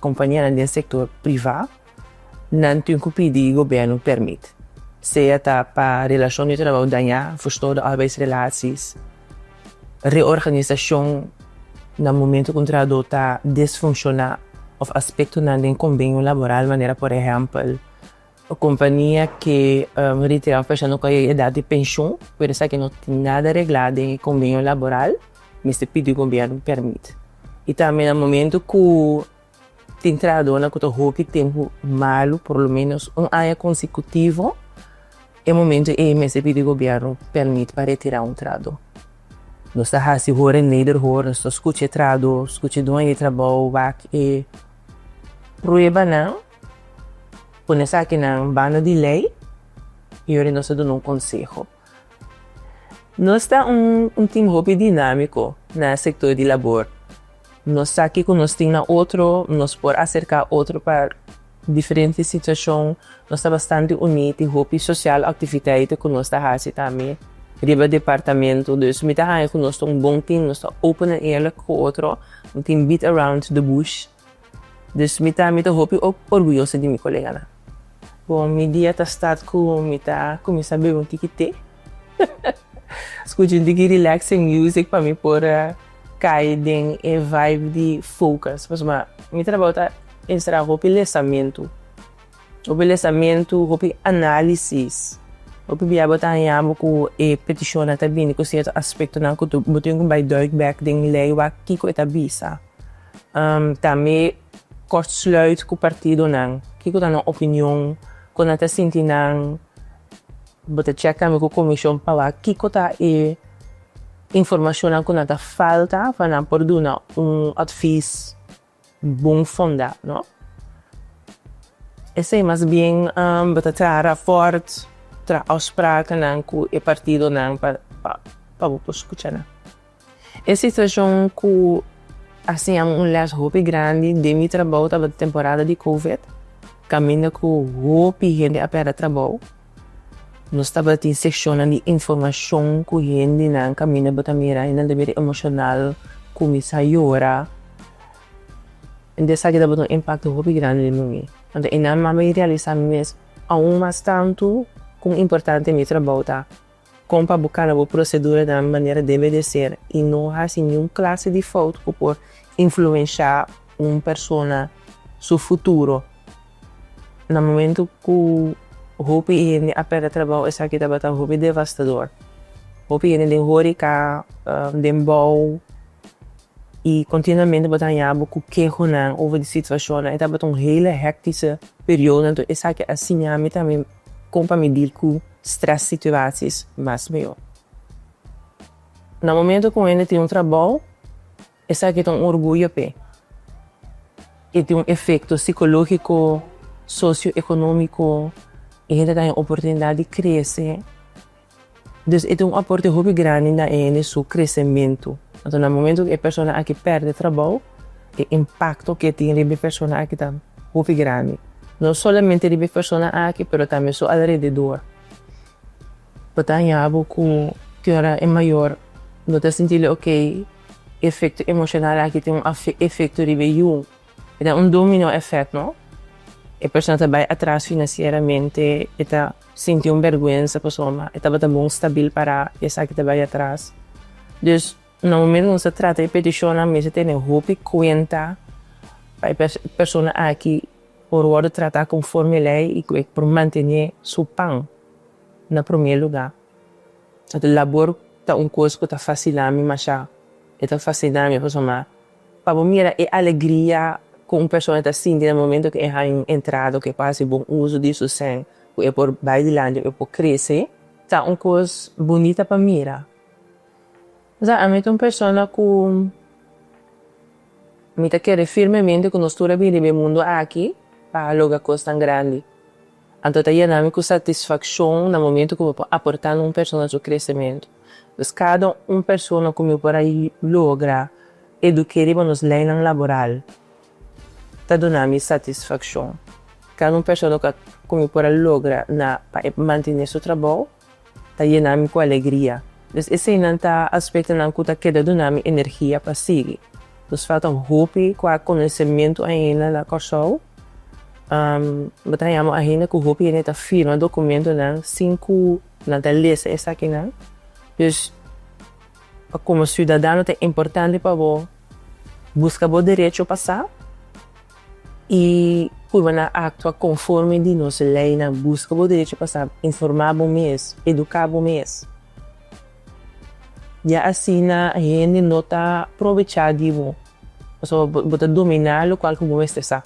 Kompanianan den sektor privá nan tin ku pidi gobièrnu pèrmit, sea ta pa relashon di trabou dañá, furstoda arbeidsrelaties, reorganisashon na momentu ku un trahadó ta desfunshoná, òf aspektonan den kombenio laboral manera por ehèmpel, E kompania ke ritira un persona ku a yega edat di penshon por esaki no tin nada reglá den e kombenio laboral mester pidi gobièrnu pèrmit. I tambe na momentu ku tin trahadónan ku ta hopi tempu malu, por lo ménos un aña konsekutivo, e momentu ei mester pidi gobièrnu pèrmit pa retirá un trahadó. Nos ta hasi hor en Nederhorst, nos ta skucha e trahadó, skucha e dueño di trabou, wak e pruebanan. Pone esakinan banda di lei i ora nos ta duna un konseho. Nos ta un tim hopi dinámiko na e sektor di labor. Nos sa kiko nos tin na otro, nos por aserká otro pa diferente situashon, nos ta bastante uní, tin hopi sosial aktiviteiten ku nos ta hasi tambe riba departamentu. Dus mi ta haña ku nos ta un bon tim, nos ta open en eerlek ku otro, un tim beat around the bush. Dus mi ta mi ta hopi orguyoso di mi koleganan. Bon, mi dia ta start ku mi ta kuminsá bebe un tiki te, skucha un tiki relaxing music pa mi por kai den e vibe di focus. Pasobra mi trabou ta enserá hopi lesamentu, hopi lesamentu, hopi análisis. Hopi bia bo ta haña bo ku e petishonnan ta bini ku sierto aspektonan ku bo tin ku bai duik bèk den lei wak kiko e ta bisa. Ta mi kortsluit ku partidonan. Kiko ta no opinion? Kon nan ta sinti nan? Bo ta cheka mi ku komishon pa wak kiko ta e informashonnan ku nan ta falta pa nan por duna un atvis bon fonda, no? Esei mas bien bo ta traha raport, traha afsprakennan ku e partidonan pa bo por skucha nan. E situacion cu a siñami un les hopi grandi den mi trabou tabata temporada di covid, caminda cu hopi hende a perde trabou. Nos tabatin seccionnan di informacion cu hendenan caminda bo ta mira y nan ta bira emocional, cuminsa yora. Enta esaki tabata un impacto hopi grandi den mi mi. Anto e nan mama y realisa mi mes aun mas tantu con importante mi trabou ta. Kon pa bo kana bo prosedura na manera debe di ser i no hasi niun klase di fout ku por influenshá un persona su futuro. Na momentu ku hopi hende a pèrdè trabou esaki tabata hopi devastador. Hopi hende den hórika, den bou i kontinuamente bo ta hañá bo ku kehonan over di situashonnan. E tabata un hele héktische periodo. Anto esaki a siña mi tambe. Kon pa mi dil ku strès situaties mas mihó? Na momentu ku un hende tin un trabou, esaki ta un orguyo p'e. E tin un efekto sikológiko, sosioekonómiko. E hende ta haya un oportunidat di krese Dus e ta un aporte hopi grandi na hende su kresementu. Anto na momentu ku e persona aki pèrdè trabou, e impakto ku e tin riba e persona aki ta hopi grandi. No solamente riba e persona aki, pero tambe su alrededor. Bo ta haña bo ku tin ora e mayor no ta sinti lo oké, e efekto emoshonal aki tin un efekto riba e yu. E ta un dominó èfèkt, no? E persona ta bai atras finansieramente, e ta Sinti un berguensa pasobra ma e tabata bon stabil para esaki ta bai atras. Dus, na momentu ku nos ta trata e petishonnan mester tene hopi kuenta pa e persona aki por wòrdu tratá konforme lei i ku e por mantené su pan na promé lugá. Labor ta un kos ku ta fasilami mashá. E ta fasilami pasobra ma Pa bo mira e alegria ku un persona ta sinti na momento ku e haña un entrada ku e por hasi bon uso di su sèn, ku e por bai dilanti, ku e por krese, ta un kos bunita pa mira. O sea, ami ta un persona ku mi ta kere firmemente ku nos tur a bini riba e mundu aki pa logra kosnan grandi. Anto ta yena mi ku satisfakshon na momentu ku mi por aportá na un persona su kresementu. Pues kada un persona ku mi por a logra eduk'é riba nos leinan laboral ta duna mi satisfakshon. Kada un persona ku mi por a logra na pa e mantené su trabou. Ta yena mi ku alegria. Mes eseinan ta aspektonan ku ta keda duna mi energia pa sigui. Nos falta un hopi ku a konosementu ainda na Kòrsou. Bo ta yama ainda ku hopi hende ta firma dokumentunan sin ku nan ta lesa esakinan. Dus, komo siudadano ta importante pa bo buska bo derecho pa sa. i cu bo na actua conforme di nos leynan, busca bo derecho pa sa, informa bo mes, educa bo mes. Ya asina hende no ta probecha di bo, pasobra bo ta domina locual cu bo mester sa.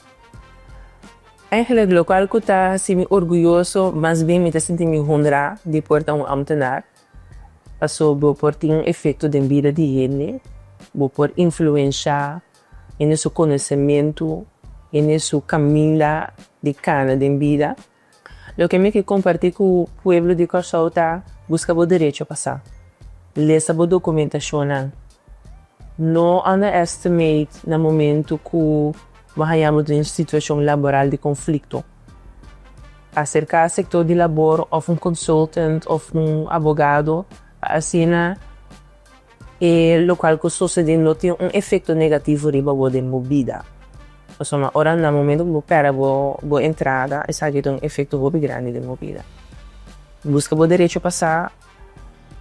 Eigenlijk locual cu ta haci mi orguyoso, mas bien mi ta sinti mi honra di por ta un ambtenaar, pasobra bo por tin un efecto den bida di hende, bo por influencia i n'e su konosementu i n'e su kaminda di kana den bida. Loke mi ke kompartí ku pueblo di Kòrsou ta, buska bo derecho pa sa. Lesa bo dokumentashonnan. No underestimate na momentu ku bo haña bo den situashon laboral di konflikto. Aserká sektor di labor òf un konsultant òf un abogado pa asina. E lokal ku sosodé lo tin un efekto negativo riba bo den bo bida. Pasobra ora na momentu ku bo pèrdè bo bo entrada, esaki ta un efekto hopi grandi den bo bida. Buska bo derecho pa sa,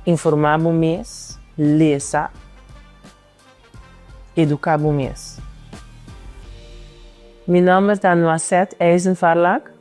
informá bo mes, lesa, eduká bo mes. Mi nòmber ta Noisette Eisenfarlack.